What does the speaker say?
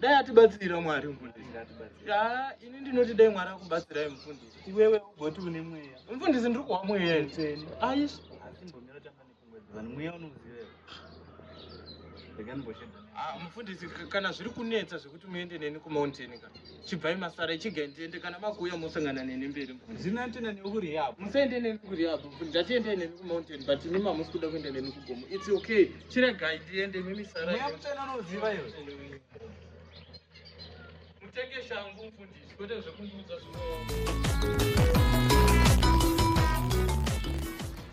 dai atibatsira mwari mfundisi ah, ini ndinoti dai mwari akubatsirai mfundisi iwewe ugoti une mweya mfundisi ndiri kuwa mweya itseni aish ah, mfundisi kana zviri kunetsa zvekuti muende neni kumountain ka chibvai masara chigai ndiende kana makuuya mosangana neni mberi ndinoendena neni kurehab musaende neni kurehab ndatiendei neni kumountain but imi mamusi kuda kuenda neni kugomo its okay chiregai ndiende mimi saramutenanoziva iwe mutenge shangu mfundisi kwete zvekundiudza zvino